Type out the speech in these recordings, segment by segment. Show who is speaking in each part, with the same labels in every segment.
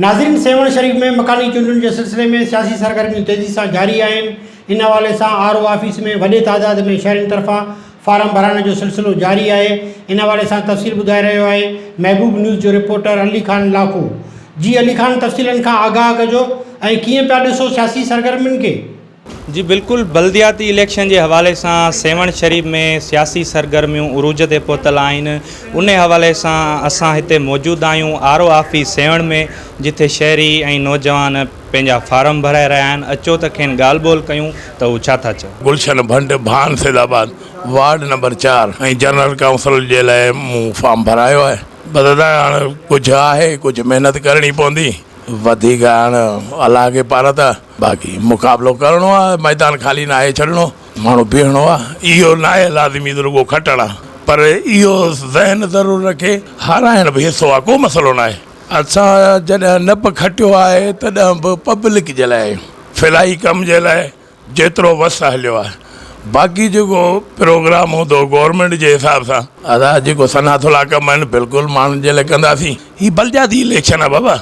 Speaker 1: ناظرين سيوهڻ شريف ۾ مڪاني چونڊن جي سلسلي ۾ سياسي سرگرميون تيزي سان جاري آهن ان حوالي سان آر او آفيس ۾ وڏي تعداد ۾ شهرين طرفان فارم ڀرائڻ جو سلسلو جاري آهي ان حوالي سان تفصيل ٻڌائي رهيو آهي محبوب نيوز جو رپورٽر علي خان لاکو جي علي خان تفصيلن کان آگاهه ڪجو ۽ ڪيئن پيا ڏسو سياسي سرگرمين کي. جي بلڪل
Speaker 2: بلدياتي اليڪشن جي حوالي سان سيوهڻ شريف ۾ سياسي سرگرميون عروج تي پهتل آهن انهي حوالي سان اسان هتي موجود آهيون آر او آفيس سيوهڻ ۾ جتي شهري ۽ نوجوان پنهنجا فارم ڀرائي رهيا آهن اچو ته کين ڳالهه ٻولهه ڪيون ته هو ڇا ٿا چون. گلشن ڀٽ Bhan
Speaker 3: Saeedabad ward number چار ۽ جنرل ڪائونسلر جي لاء مون فارم ڀرايو آهي بدران هاڻ ڪجهه آهي ڪجهه محنت ڪرڻي پوندي وڌيڪ هاڻ الله کي پارت آهي. باقي مقابلو ڪرڻو آ ميدان خالي ناهي ڇڏڻو ماڻهو بيهڻو آ اهو ناهي لازمي ته رڳو کٽڻ آ پر اهو ذهن ضرور رکي هارائڻ به حصو آ ڪو مسئلو ناهي اسان جڏهن نه به کٽيو آهي تڏهن به پبلڪ جي لاء فلاحي ڪم جي لاء جيترو وس هليو آ باقي جيڪو پروگرام هوندو گورنمينٽ جي حساب سان ادا جيڪو صنعت لا ڪم آهن بلڪل ماڻهن جي لاء ڪنداسين هي بلدياتي اليڪشن آ بابا.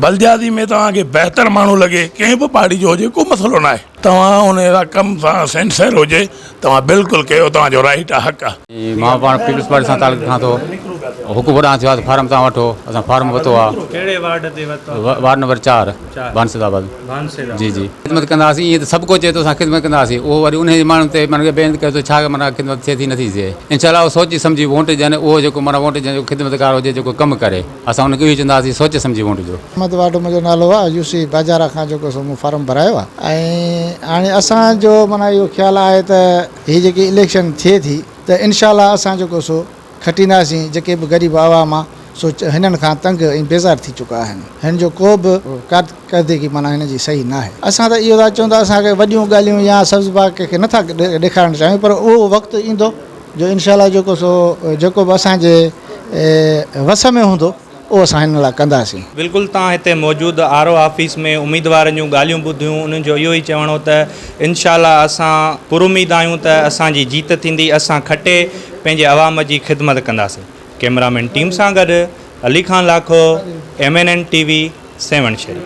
Speaker 3: بلدياتي ۾ توهان کي بهتر ماڻهو لڳي ڪنهن به پارٽي جو هجي ڪو مسئلو نه آهي توهان ان جا ڪم سان سينسيئر هجي توهان بلڪل ڪيو توهان جو رائيٽ آ حق آ. مان پاڻ پيپلز پارٽي
Speaker 4: سان تعلق رکان ٿو حڪم ھوڏانھن ٿيو آھي ته فارم تان وٺو اسان فارم ورتو آھي ڪھڙي وارڊ تي
Speaker 2: ورتو آھي وارڊ نمبر چار
Speaker 4: بانسد آباد بانسد آباد جي جي خدمت ڪنداسين ايئن ته سڀ ڪو چئي ٿو اسان خدمت ڪنداسين اھو وري انھي جي ماڻھن تي معنيٰ ڪي بيھند ڪيو ٿو ڇا معنيٰ خدمت ٿئي ٿي نٿي ٿئي انشاء الله اھو سوچي سمجھي ووٽ ڏين اھو جيڪو معنيٰ ووٽ جنھن جو خدمتگار ھجي جيڪو ڪم ڪري. اسان ان کي اهو ئي چوندا هئاسين سوچي سمجهي ووٽ ڏيو. احمد واڍو منهنجو نالو
Speaker 5: آهي يو سي باجارا کان جيڪو سو مون فارم ڀرايو آهي ۽ هاڻي اسان جو معنيٰ اهو خيال آهي ته هي جيڪي اليڪشن ٿئي ٿي ته انشاء الله اسان جيڪو سو کٽينداسين جيڪي به غريب عوام آهي سو هنن کان تنگ ۽ بيزار ٿي چڪا آهن هن جو ڪو به ڪارڪردگي معنيٰ هن جي صحيح ناهي اسان ته اهو ٿا چون ته اسان کي وڏيون ڳالهيون يا سبز باغ ڪنهن کي نٿا ڏيکارڻ چاهيون پر اهو وقت ايندو جو انشاء الله جيڪو سو جيڪو به اسان جي وس ۾ هوندو اهو اسان هنن لاء ڪنداسين. بلڪل تان هتي
Speaker 2: موجود آر او آفيس ۾ اميدوارن جون ڳالهيون ٻڌيون انهن جو اهو ئي چوڻ هو ته انشاء الله اسان پراميد آهيون ته اسان جي جيت ٿيندي اسان کٽي پنهنجي عوام جي خدمت ڪنداسين ڪيمرا مين ٽيم سان گڏ Ali Khan Lakho M N N T V Sehwan Sharif.